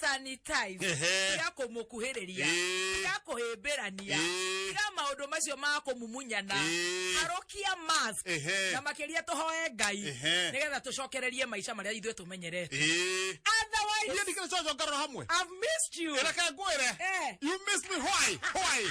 sanitize Ehe. tiga kumukuhiriria Ee. tiga kuhimbirania Ee. tiga maundu macio ma kumumunyana Ee. harukia mask Ehe. na makiria tuhoe ngai Ehe. nigetha tucokererie maica maria ithuĩ tumenyerete Eh. otherwise Hiyo ni kile chocho ngaro hamwe. I've missed you Ila kaya ngwire. Eh. You miss me why? Why?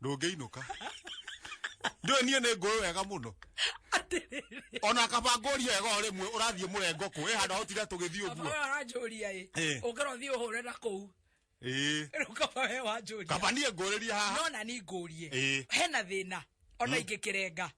ndũngĩinũka ndũĩ niĩ nĩ ngũĩ wega mũno ona kabango ũrio wega o rĩmwe ũrathiĩ mũrengo kũ ĩ handũ ahotire tũgĩthiĩ ũguo aranjũria ĩ Eh. ũkĩra ũthiĩ ũhũre na kũu ĩĩ rĩu kaba we wanjũria kaba niĩ ngũrĩrie haha no na ni ngũrie Eh. hena thĩna ona ingĩkĩrenga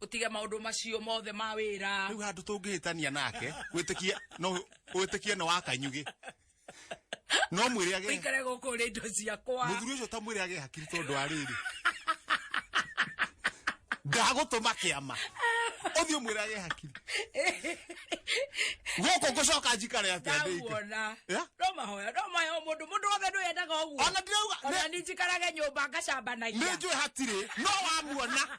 utige maundu macio mothe ma wira riu handu tungihitania nake witikie no witikie no wakanyugi no mwire age ikare guku ri ndo ciakwa muthuri ucio ta mwire age hakiri tondu ariri ndagutuma kiama uthio mwire age hakiri guku ngucoka njikare atia ndike ndaguona Yeah. no mahoya no mahoya mundu mundu wothe ndu yendaga uguo Ona ndirauga- ona ni njikarage nyumba ngacambanagia nä njå hatirä no wamuona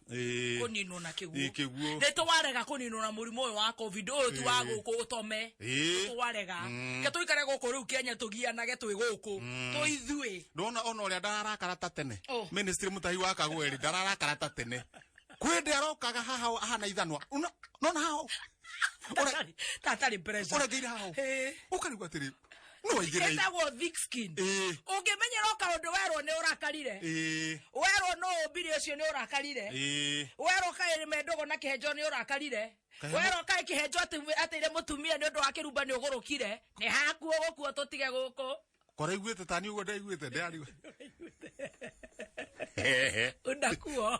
Ĩĩ. kũninwo na kĩguũ Ĩĩ, kĩguũ. nĩ twarega kũninwo na mũrimũ ũyũ wa covid ũyũ ti wa gũkũ ũtome Ĩĩ. Nĩ twarega ke tũikare gũkũ rĩu kenya tũgianage twĩ gũkũ twĩ ithuĩ ndona ona ũrĩa ndararakara ta tene Oh. ministry mũtahi wa kagweri ndararakara ta tene kwĩ ndĩ arokaga haha o- ahana ithanwa Una- nona haha o. Ũre- Tatarĩ- tatarĩ pressure. ũrengeire haha o. Ĩĩ. ũkarigwo atĩrĩ No igĩrei. etagwo thick skin Ĩĩ. ũngĩmenyera o kaũndũ werwo nĩ ũrakarire Ĩĩ. werwo no ũmbire ũcio nĩ ũrakarire Ĩĩ. werwo kaĩ mendogo na kĩhenjo nĩ ũrakarire Kaĩ- werwo kaĩ kĩhenjo atĩ- atĩire mũtumia nĩ ũndũ wa kĩrumba nĩ ũgũrũkire nĩ hakuo gũkuo tũtige gũkũ Koraiguĩte tani ũguo ndaiguĩte ndĩrariu. unakuo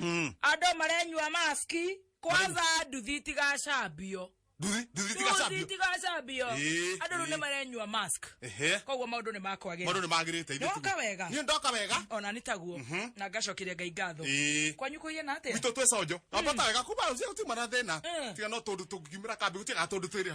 Mm. andå marenyua maski kwanza nduthi itigacambio Nduthi, nduthi tigacambio. itigacambio Ĩĩ, andå rä u ĩĩ. nä marenyua mask Ehe. koguo maå ndå nä makwagä Maũndũ nĩ magĩrĩte ithe Ndoka tu. wega. Niĩ ndoka wega. ona nä taguo na ngacokeria ngai ngatho Ĩĩ. kwanyu kå hiana atä Witũ twĩ conjo. Ambata wega kuma rũciũ gũtiuma na thĩna. Mm. Tiga no tũndũ tũngiumĩra kambĩ gũtiga tũndũ twĩrĩ.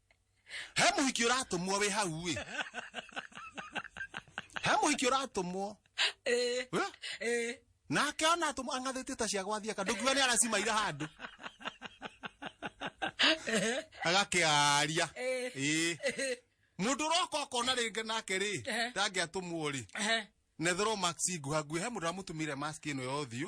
he muhiki uratumwo wi hau wi he muhiki uratumwo Eh, we eh. nake ona atumwo ang'athĩtie ta cia gwathia ka ndũkiuga nĩ aracimaira handũ agakĩaria Eh. ĩĩ mũndũ ũroka ũkona rĩngĩ nake rĩ Eh. ndangĩatũmwo rĩ Eh, nethero max nguha nguhe mũndũ aramũtumire mask ĩno ya ũthiũ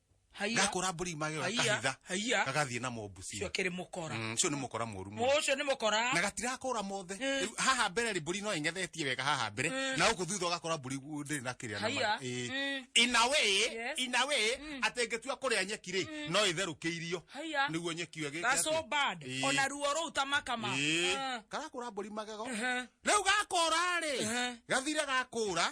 haiya gakũra mbũri magĩra Haiya, kahitha haiya. gagathiĩ namo mbucia cio kĩrĩ mũkora Mm, ũcio nĩ mũkora mũru mũno ũcio nĩ mũkora na gatirakũra mothe Eh. Rĩu haha mbere rĩ mbũri no ing'ethetie wega haha mbere Eh. na gũkũ thutha ũgakora mbũri gu- ndĩrĩ na kĩrĩa na Haiya. ma- ĩĩ. Mm. in a way Yes. in a way atĩ ngĩtua kũrĩa nyeki rĩ no ĩtherũkĩirio Haiya. nĩguo nyeki ĩyo ĩgĩke gaso atĩ- bad Ĩĩ. ona ruo rũu ta makama Ĩĩ. Ah. karakũra mbũri magego Ehe. rĩu gakũra rĩ Ehe. gathire gakũra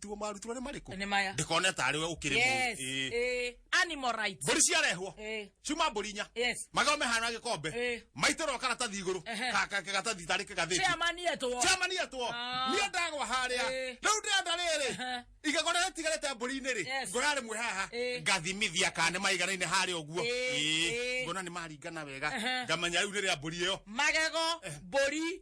tuo marutwo nĩ marĩkũ Nĩ maya. ndĩkone tarĩ we ũkĩrĩ yes mũĩ eh, animal rights mbũri ciarehwo Eh. ciuma mbũri inya Yes. magome hana gĩkombe Eh. maitĩrwo karatathi igũrũ Ehe. Ka- ka- karatathi tarĩ kagathĩti chairman yetwo chairman yetwo Ah. niĩ ndagwa harĩa Eh. rĩu ndĩrenda rĩrĩ Ehe. igego rĩrĩa tigarĩte mbũri-inĩ rĩ Yes. ngoya rĩmwe haha Eh. ngathimithia kana nĩ maiganaine harĩa ũguo Eh, Ĩĩ. eh. ngona nĩ maringana wega Ehe. ngamenya rĩu nĩ rĩa mbũri ĩyo magego mbũri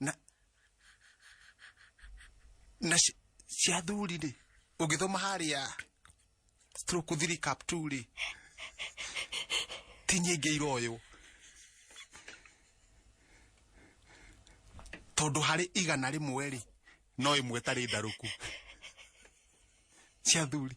na na ci- cia thuri rĩ ũngĩthoma harĩa stroke thiri cap two rĩ ti nyingĩ iroywo tondũ harĩ igana rĩmwe rĩ no ĩmwe tarĩ ndarũku cia thuri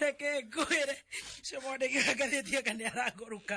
reke ngwĩre cimwandĩki wa ngathĩti aka nĩ arangũrũka